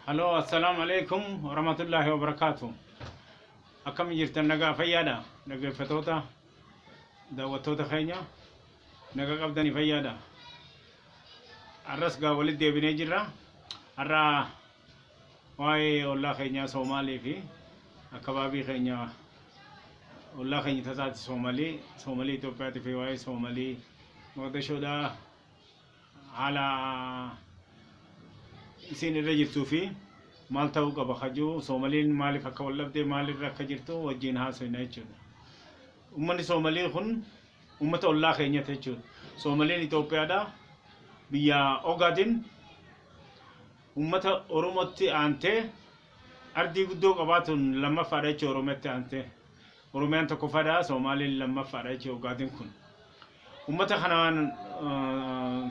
Haloo assalaamu alaikum warahmatullaahi wabarakaatu akkami jirtan nagaa fayyaadha dhaggeeffatoota daawwattoota keenya nagaa qabdani fayyaadha har'as gaa walitti deebinee jirra har'a waa'ee ollaa keenyaa soomaalii fi akkabaabii keenya ollaa keenya tasaati soomalii soomalii Itoophiyaatii fi waa'ee soomalii moqdashoodhaa haala isiin irra jirtuu fi maal ta'uu qaba ka jiru Soomaliin maaliif akka wal dhabdee maal irra akka jirtu wajjin haasofna jechuudha. Uummanni Soomalii kun uummata ollaa keenyatti jechuudha. Soomaliin Itoophiyaadha. Biyya Ogaadin uummata Oromootti aantee ardii guddoo qabaatuun lammaffaadha jechuudha Oromiyatti aantee. Oromiyaan tokkoffaadha, Soomaaleen lammaffaadha jechuudha Ogaadeen kun. Uummata kanaan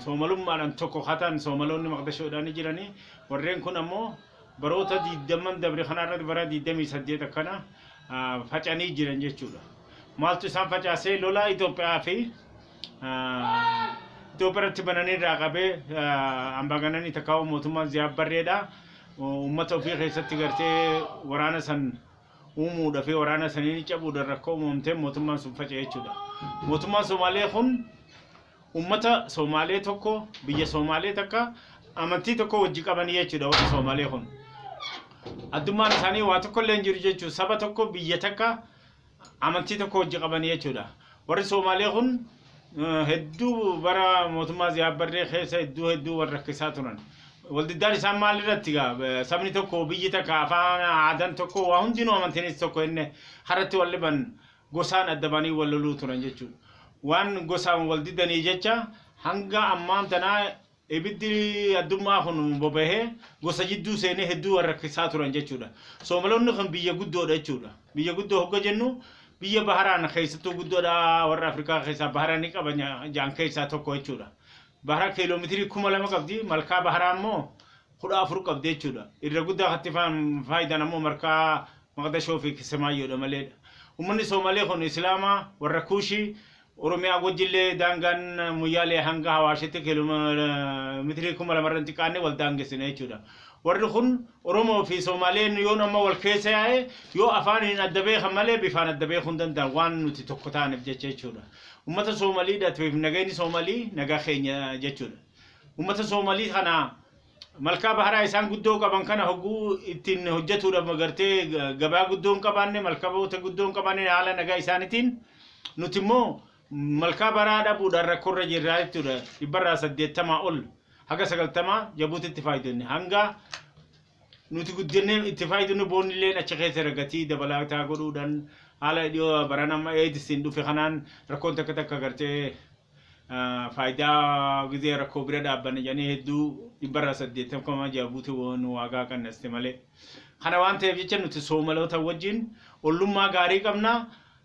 Soomalummaadhaan tokko haa ta'an Soomaloonni Maqdashoodhaan ni jirani. Warreen kun ammoo baroota 20 dabre kana irratti bara 28 akkana facanii jiran jechuudha. Maaltu isaan facaasee lolaa Itoophiyaa fi Itoophiyaa irratti bananii irraa qabee ambaagananii takkaawuu mootummaan Ziyaab Barreedha. Uummata ofii keessatti gartee waraana san uumuudha fi waraana saniin cabuudhaan rakkoo uumamteen mootummaan sun faca'e jechuudha. Mootummaan Soomaalee kun uummata Soomaalee tokko biyya Soomaalee takka amantii tokko wajji qabanii jechuudha warri Soomaalee kun. Addummaan isaanii waa tokko illee hin jiru jechuudha. Saba tokko biyya takka amantii tokko wajji qabanii jechuudha. Warri Soomaalee kun hedduu bara mootummaa Ziyaabbarree keessa hedduu hedduu wal rakkisaa turan. Waldiddaan isaan maal irratti gaa sabni tokko biyyi takka afaan aadaan tokko waa hundinuu amantiinis tokko inni haratti wal dhiban gosaan adda baanii wal loluu turan jechuudha. Waan gosaan wal didanii jecha hanga ammaan tanaa Ibiddi addummaa kun boba'ee gosa jidduu seenee hedduu wal rakkisaa turan jechuudha. Soomaloonni kun biyya guddoodha jechuudha. Biyya guddoo hogga jennu biyya baharaan keessattuu guddoodha warra Afrikaa keessaa bahara ni qaba jaan keessaa tokko jechuudha. Bahara kiiloomeetirii kuma lama qabdi malkaa baharaa immoo kudha afur qabdi jechuudha. Irra guddaa katti faayidaan ammoo markaa maqdashoo fi kisemaayyoodha maleedha. Uummanni Soomalee kun Islaamaa warra Kuushii Oromiyaa Gujjillee daangaan Moyyaalee hanga Hawaashitti kiilomeetirii 2000 irra hin xiqqaanne wal daangessina jechuudha. Warri kun Oromoo fi Somaaleen yoon amma wal keessa yaa'e yoo afaaniin adda beekan malee bifaan adda beekuu hin danda'an waan nuti tokko taaneef jecha jechuudha. Uummata Soomalii dhatiif nageenyi Soomalii nagaa keenya jechuudha. Uummata Soomalii kana Malkaa baharaa isaan guddoo qaban kana hogguu ittiin hojjetuudha magartee gabaa guddoo hin qabaanne malkaboota guddoo hin qabaanne haala nagaa isaaniitiin nuti immoo malkaa baraa dhabuudhaan rakkoorra jirraa jechuudha dhibbarraa saddeettamaa ol haga sagaltamaa jabuutitti faayidonni hanga nuti guddinne itti faayidonni boonillee achi keessa ragatii dabalataa godhuudhaan haala dhiyoo baran amma eedisiin dhufe kanaan rakkoon takka takka gartee faayidaa gizee rakkoo bira dhaabbanne jedhanii hedduu dhibbarraa saddeettam kuma ja'a guute waan waagaa qannaste malee. Kana waan ta'eef jecha nuti soomaloota wajjin ollummaa gaarii qabna.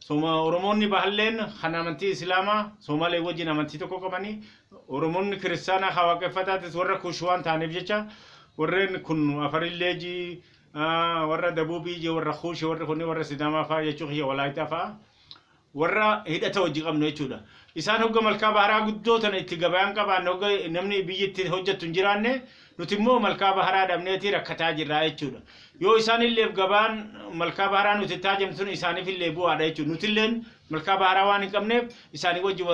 Sooma Oromoonni bahalleen kan amantii Islaamaa Soomalee wajjin amantii tokko qabanii Oromoonni kiristaanaa haa waaqeffataatis warra kuush waan ta'aniif jecha warreen kun afarillee ji warra dabuubii ji warra kuushi warri kun warra sidaamaa fa'aa jechuu kiyya walaayitaa fa'aa. warra hidhata wajji qabnu jechuudha. Isaan hogga malkaa baharaa guddoo tana itti gabayaan qabaanne hogga namni biyyi itti hojjattu hin jiraanne nuti immoo malkaa baharaa dhabneeti rakkataa jirraa jechuudha. Yoo isaan illeef gabaan malkaa baharaa nuti itti haajamnu sun isaaniif illee bu'aadha jechuudha. Nuti illeen malkaa baharaa waan hin qabneef isaanii wajji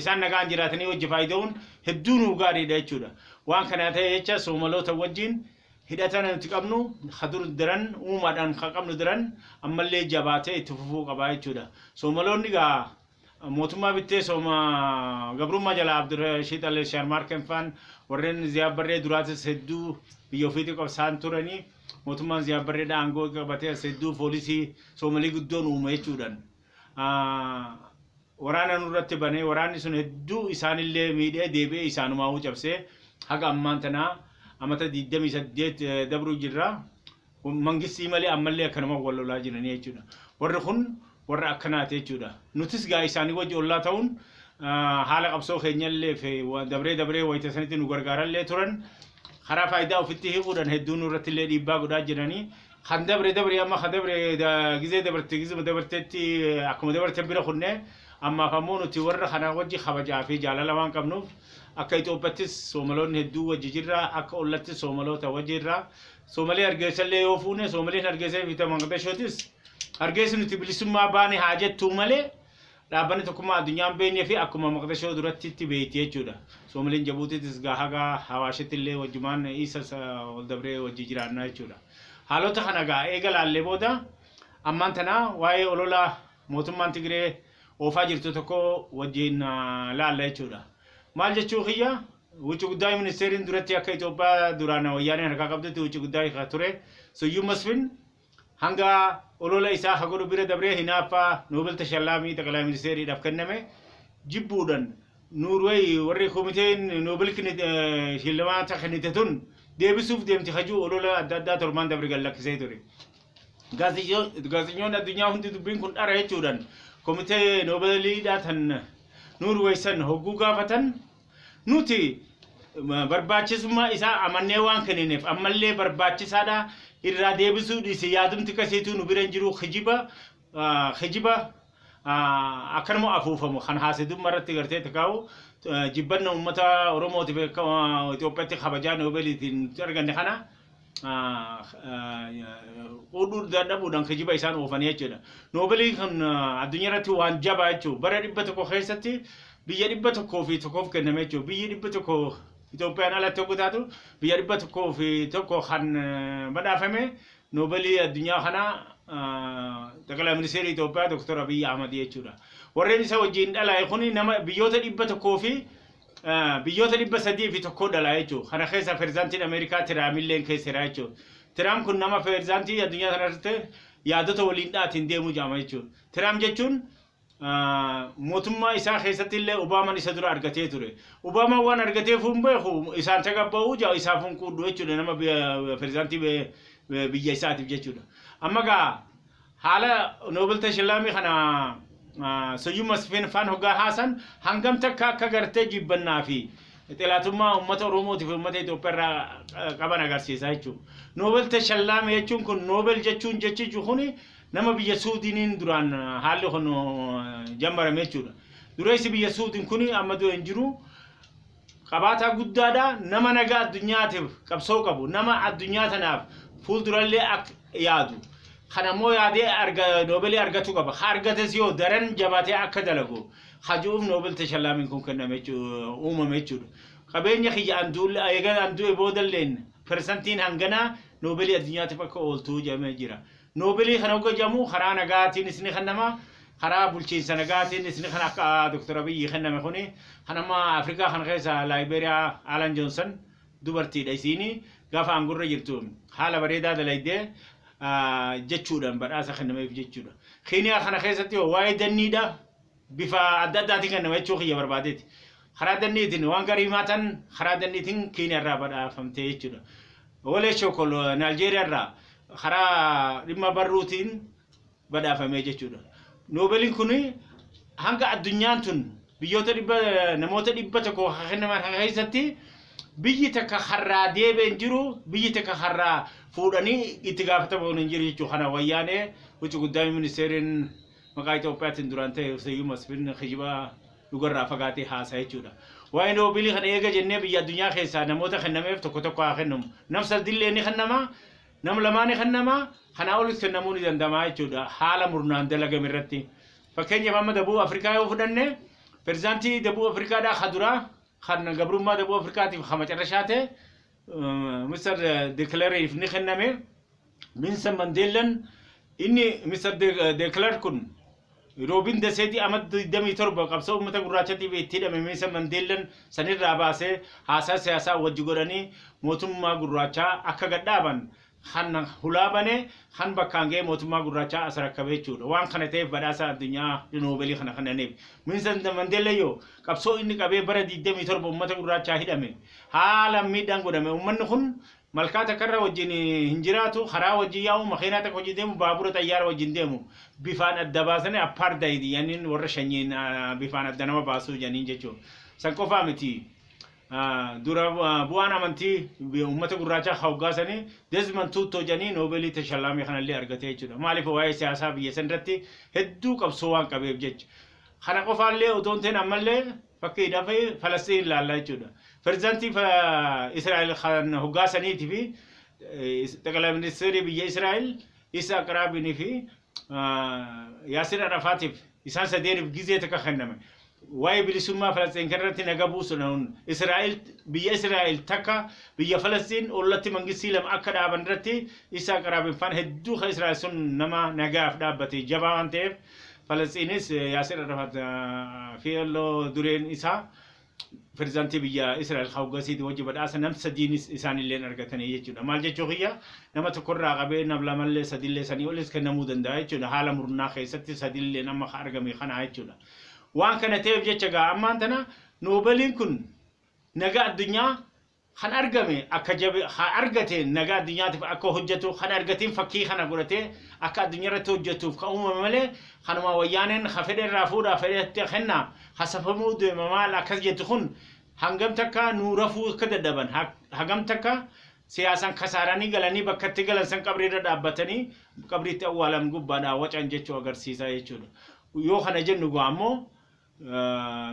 isaan nagaan jiraatanii wajji faayida'uun hedduu nuu gaariidha jechuudha. Waan kanaa ta'e jecha soomaloota wajjiin Hidhata nuti qabnu ka dur daran uumaadhaan ka qabnu daran ammallee jabaatee itti fufuu qaba jechuudha. Soomaloonni egaa mootummaa bittee sooma gabrummaa jalaa Abdurashiid Al Shaarmaarkeen faan warreen Ziyaad Barree duraatis hedduu biyya ofiitii qabsaan turanii mootummaan Ziyaad Barreedha aangoo qabatee as hedduu poolisii Soomalii guddoon uume jechuudhaan. waraana nurratti banee waraanni sun hedduu isaanillee miidhee deebi'ee isaanumaawuu cabsee haga ammaan tanaa amata 28 dabruu jirra. Mangistii malee ammallee akkanuma wal lolaa jiranii jechuudha. Warri kun warra akkanaati jechuudha. Nutis gaa isaanii wajji ollaa ta'uun haala qabsoo keenyallee fi dabree dabree wayita sanitti nu gargaarallee turan karaa faayidaa ofitti hiikuudhaan hedduu nurrattillee dhiibbaa godhaa jiranii Kan dabre dabre amma kan dabre gizee dabarte gizuma dabartetti akkuma dabarten bira kunne ammaaf ammoo nuti warra kana wajji kabajaa fi jaalala waan qabnuuf akka Itoophiyaattis Soomaloonni hedduu wajji jirra akka ollattis Soomaloota wajji jirra Soomalee Hargeessa illee yoo fuune Soomaleen Hargeessa fi Maqdashootis Hargeessi nuti bilisummaa baane haa jettuu malee Dhaabbanni Tokkummaa Addunyaa hin beeknee fi akkuma Maqdashoo durattitti beekti jechuudha. Soomaliin Jabuutiitis gaa haga Hawaashitti illee wajjumaan Iisas ol dabree wajji jiraanna jechuudha. Haalota kana gaa eega laallee booda ammaan tana waa'ee olola mootummaan Tigiree oofaa jirtu tokko wajjiin laalla jechuudha. Maal jechuu kiyya Wucci Guddaay Ministeeriin duratti akka Itoophiyaa duraan Wayyaaneen harkaa qabdutti Wucci Guddaay ka ture Suyyum Masfin Hanga olola isaa ka godhu bira dabree hinaaffa Nobel Tashallaamii Xaqalaa Ministeeriidhaf kenname jibbuudhan Noorway warri komiteen Nobel shillamaata kennite tun deebisuuf deemti ka ji'u olola adda addaa torbaan dabre gad lakkisee ture. Gaazexnyoonni addunyaa hundi dubbiin kun dhara jechuudhan komitee Nobeliidhaa tan Noorway san hogguu gaafatan, Nuti barbaachisummaa isaa amannee waan kennineef ammallee barbaachisaadha irraa deebisuu dhiise yaadumti kasiituu nu bira hin jiru kijiba kijiba akkanuma afuufamu kan haasidumma irratti gartee takaa'u jibbanna uummata Oromootiif Itoophiyaatti kabajaa Noobeeliitiin arganne kana oduu dadhabuudhaan kijiba isaan oofanii jechuudha. Noobelii kun addunyaa irratti waan jabaa jechuudha. Bara dhibba tokko keessatti biyya dhibba tokkoo fi tokkoof kenname jechuudha. Biyyi dhibba tokko Itoophiyaan alatti yoo taatu biyya dhibba tokkoo fi tokko kan badhaafame noobelii addunyaa kana xaqilaa ministeerii Itoophiyaa Dr. Abiyyi Ahmad jechuudha. Warreen isa wajjin dhalaa'e kun nama biyyoota dhibba tokkoo fi Biyyoota 301 dhalaa jechuun kana keessa peerzaantiin Ameerikaa Tiraamilleen keessa jira jechuun. Tiraam kun nama peerzaantii addunyaa kanarratti yaadota waliin dhaatiin deemuu jedhama jechuun. Tiraam jechuun mootummaa isaa keessatti illee Obaaman isa dura argatee ture. Obaaman waan argateef hin beeku isaan tagabba'uu jaa isaaf hin quudhu jechuudha nama peerzaantii biyya isaatiif jechuudha. Amma gaa Haala Noobel Tashilaamii kana Siyyum Masfin faan hoggaa haasan hangam takka akka gartee jibbannaa fi xilaatummaa uummata Oromootii fi uummata Itoophiyaa irraa qaban agarsiisa jechuudha. Noobel Tashallaamee jechuun kun Noobel jechuun jechichi kun nama biyya Suudiiniin duraan haalli kun jammarame jechuudha. Dureessi biyya Suudiin kun amma du'e hin jiru. Qabaataa guddaadha, nama nagaa addunyaatiif qabsoo qabu, nama addunyaa tanaaf fuuldurallee akka yaadu, kan ammoo yaadee arga, noobelii argachuu qaba. Ka argates yoo daran jabaatee akka dalagu ka ji'uuf noobel tashallaamiin kun kenname jechuu- uumame jechuudha. Qabeenya kiyya an duulle, eega an du'e boodalleen persantiin hanganaa noobelii addunyaatiif akka ooltu jedhamee jira. Noobelii kana hogga jedhamu karaa nagaatiinis ni kennama, karaa bulchiinsa nagaatiinis ni kenna akka Dr. Abiyyi kenname kuni. Kan amma Afrikaa kana keessa Liberia Alan Johnson dubartiidha isiini gaafa aangorra jirtu haala bareedaa dalayde jechuudhaan badhaasa kennameef jechuudha. Keniyaa kana keessatti waa'ee danniidha. bifa adda addaatiin kennama jechuu kiyya barbaadeeti. Karaa danniitiin waan garii himaatan karaa danniitiin Keeniyaa irraa badhaafamtee jechuudha. Wolee Shokol Naaljeeriyaa irraa karaa dhimma barruutiin badhaafamee jechuudha. Noobeliin kun hanga addunyaan tun biyyoota dhibba namoota dhibba tokko kan kennaman kana keessatti biyyi takka harraa deebee hin jiru biyyi takka harraa fuudhanii itti gaafatamuun hin jiru jechuudha. Kana wayyaanee huccu guddaa ministeeriin Maqaa Itoophiyaatiin duraan ta'e Syyum Masfin kijiba dhugarraa fagaatee haasa'a jechuudha. Waa'ee Noobilii kana eega jennee biyya addunyaa keessaa namoota kennameef tokko tokko haa kennamu. Nam sadillee ni kennama, nam lamaa ni kennama, kanaa olis kennamuu ni danda'ama jechuudha haala murnaan dalagame irratti. Fakkeenyaaf amma Dabuub Afrikaa yoo fudhanne pirezidaantii Dabuub Afrikaadhaa ka duraa kan gabrummaa Dabuub Afrikaatiif ka macarrashaa ta'e Mr. Dekileeriif ni kenname. Minsan Mandeellan inni Mr. De Klerk kun Roobin Daseeti ama 27 qabsoo uummata gurraachatiif itti hidhame Minsan Mandeellan sanirraa baasee haasaa siyaasaa wajji godhanii mootummaa gurraachaa akka gad dhaaban kan hulaa bane kan bakkaan ga'ee mootummaa gurraachaa as rakkabe jechuudha. Waan kana ta'eef badhaasa addunyaa Noobelii kana kennaniif. Minsan Mandeellan yoo qabsoo inni qabee bara 27 uummata gurraachaa hidhame haalaan miidhaan godhame uummanni kun Malkaa takkarra wajjin hin jiraatu, karaa wajjin yaa'u, makeenaa takka wajjin deemu, baabura xayyaara wajjin deemu. Bifaan adda baasanii appaardaayidii jedhaniin warra shanyiin bifaan adda nama baasuu jedhaniin jechuun. San qofaa miti. Dura bu'aan amantii uummata gurraachaa ka hoggaa sanii Desmond Tuuttoo jedhanii Noobeelii tashallaamee kanallee argatee jechuudha. Maaliif waa'ee siyaasaa biyya sanirratti hedduu qabsoo waan qabeef jecha. Kana qofaallee odoo hin ta'in ammallee Fakkiidhaaf Falasxiin ilaalla jechuudha. Pirezidaantii Israa'el kan hoggaa saniitii fi xaqilaa ministeerii biyya Israa'el Isa Aqraabiin fi Yaasir Arafaatiif isaan sadeeniif gizee takka kenname. Waa'ee bilisummaa Falasxiin kanarratti naga buusuudhaan Israa'el biyya Israa'el takka biyya Falasxiin ollatti mangistii lama akka dhaaban irratti Isa Aqraabiin faan hedduu kan Israa'el sun nama nagaaf dhaabbate jabaa waan ta'eef Falasxiinis Yaasir Arafat plo dureen isaa pirezidaantii biyya Israa'el hawgasiiti wajji badhaasa nam sadiinis isaanilleen argatanii jechuudha. Maal jechuu kiyya nama tokkorraa qabee nam lamallee sadillee sanii olis kennamuu danda'a jechuudha. Haala murnaa keessatti sadilleen amma ka argame kanaa jechuudha. Waan kana ta'eef jecha gaa ammaan tana noobeliin kun nagaa addunyaa Kan argame akka jabe ha argateen nagaa addunyaatiif akka hojjatu kan argatiin fakkii kana godhatee akka addunyarratti hojjatuuf kan uumame malee kanuma wayyaaneen ha fedhe irraa fuudha ha fedhe itti kenna hasafamuu deema maal akkas jettu kun hangam takka nuu rafuu akka dadhaban ha hagam takka siyaasan kasaaranii galanii bakka itti galan san qabrii irra dhaabbatanii qabriitti awwaalam gubbaadhaa wacan jechu agarsiisa jechuudha yoo kana jennu gaa ammoo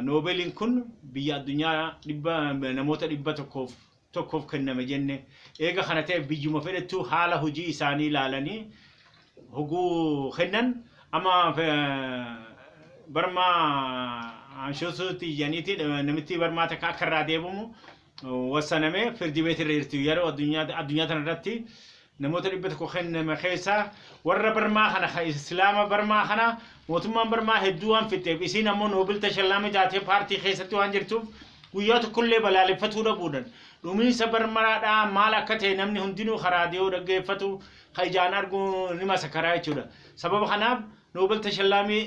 Noobeliin kun biyya addunyaa dhibba namoota dhibba tokkoof tokkoof kenname jenne. Eega kana ta'e biyyuma fedhettuu haala hojii isaanii ilaalanii hoguu kennan amma barmaa anshosuutti ijaniiti namittii barmaa takka akka irraa deebimu wassaname firdi beeti irra jirti yeroo addunyaa addunyaa tana irratti namoota dhibba tokko kenname keessa warra barmaa kana ka islaama barmaa kana mootummaan barmaa hedduu waan fixeef isiin ammoo noobil tashallaama jaatee paartii keessatti waan jirtuuf guyyaa tokkollee balaaleffatuu dhabuudhan dhumiinsa barmaraadhaa maal akka ta'e namni hundinuu karaa dhiyoo dhaggeeffatu ka ijaan arguu ni masakaraa jechuudha sababa kanaaf noobil tashallaamii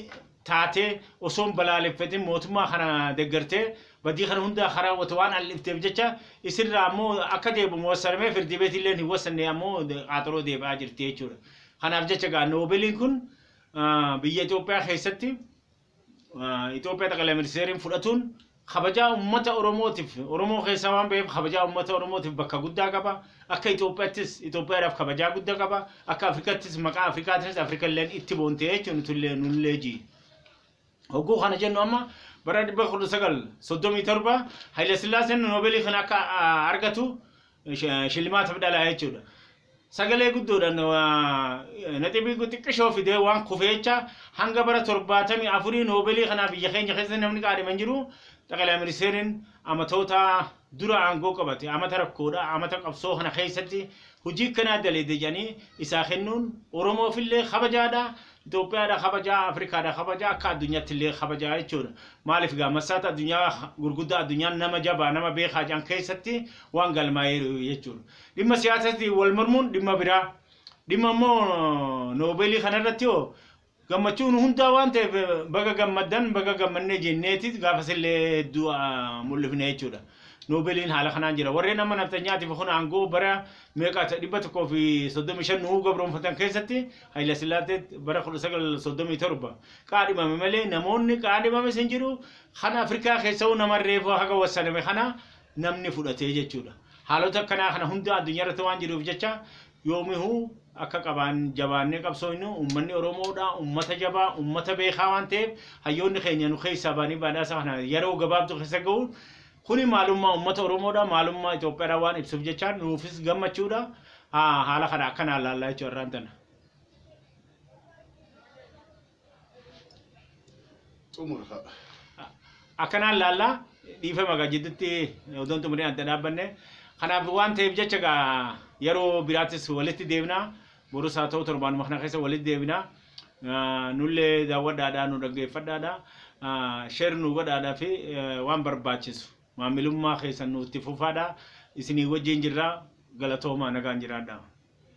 taatee osoo hin balaaleffatin mootummaa kana deggertee badii kana hundaa kan raawwate waan al'ifteef jecha isirraa ammoo akka deebimu wassaramee firdii beetii illee hin wassanne ammoo qaaxaroo deebi'aa jirti jechuudha. Kanaaf jecha gaa noobeliin kun biyya Itoophiyaa keessatti Itoophiyaa xaqalaa ministeeriin fudhatuun Kabajaa ummata Oromootiif, Oromoo keessaa waan baheef kabajaa ummata Oromootiif bakka guddaa qaba. Akka Itoophiyaattis Itoophiyaadhaaf kabajaa gudda qaba. Akka Afrikaattis maqaa Afrikaatiinis Afrikalleen itti boonte jechuun nutullee nullee ji. Hogguu kana jennu amma bara 1937 Hayilasillaaseen Noobeelii kana akka ah, argatu eh, shi- shillimaata fidhalaa jechuudha. Sagalee guddoodhaan naxibii xiqqishoo fidee waan kufeecha hanga bara torbaatamii afurii noobeelii kanaa biyya keenya keessa namni qaadhima hin jiru. Xaqalaa ministeeriin amatoota dura aangoo qabate amata rakkoodha amata qabsoo kana keessatti hojii kanaa daleede jedhanii isaa kennuun Oromoofillee kabajaadha. Itoophiyaadha kabajaa, Afrikaadha kabajaa, akka addunyaattillee kabajaa jechuudha. Maaliif gaa massaata addunyaa gurguddaa addunyaan nama jabaa nama beekaa jedhan keessatti waan galmaa'eeru jechuudha. Dhimma siyaasatti wal mormuun dhimma biraa. Dhimma immoo noobeelii kanarratti hoo gammachuu nu hundaa waan ta'eef baga gammaddan baga gammannee jenneetis gaafas illee hedduu ah, mul'ifne jechuudha. Noobeeliin haala kanaan jira. Warreen amma nafxanyaatiif kun aangoo bara meeqa ta- dhibba tokkoo fi soddomii shan nuu gabroomfatan keessatti Hayila Sillaasee bara kudha sagal soddomii torba qaadhimame malee namoonni qaadhimames hin jiru. Kan Afrikaa keessa'uu nama reefuu haga wassaname kana namni fudhatee jechuudha. Haalota akkanaa kana hunda addunyaa irratti waan jiruuf jecha yoomihuu akka qabaan jabaannee qabsoofnu uummanni Oromoodha uummata jabaa uummata beekaa waan ta'eef hayyoonni keenya nu keessaa baanii badhaasa kana yeroo gabaabdu keessa ga'uun kuni maalummaa uummata Oromoodha maalummaa Itoophiyaadha waan ibsuuf jecha nuufis gammachuudha haala kana akkanaa laallaa jechuudha irraan tana. xumurra. akkanaan laallaa dhiifama egaa jidduutti odoon xumuree adda dhaabbanne kanaaf waan ta'eef jecha egaa yeroo biraattis walitti deebina borus haa ta'u torbaanuma kana keessa walitti deebina Ah, nullee daawwadhaadhaa nu dhaggeeffadhaadha Ah, sheer nu godhaadhaa fi eh, waan barbaachisu maamilummaa keessan nuutti fufaadha isinii wajjin jirra galatoomaa nagaan jiraadha.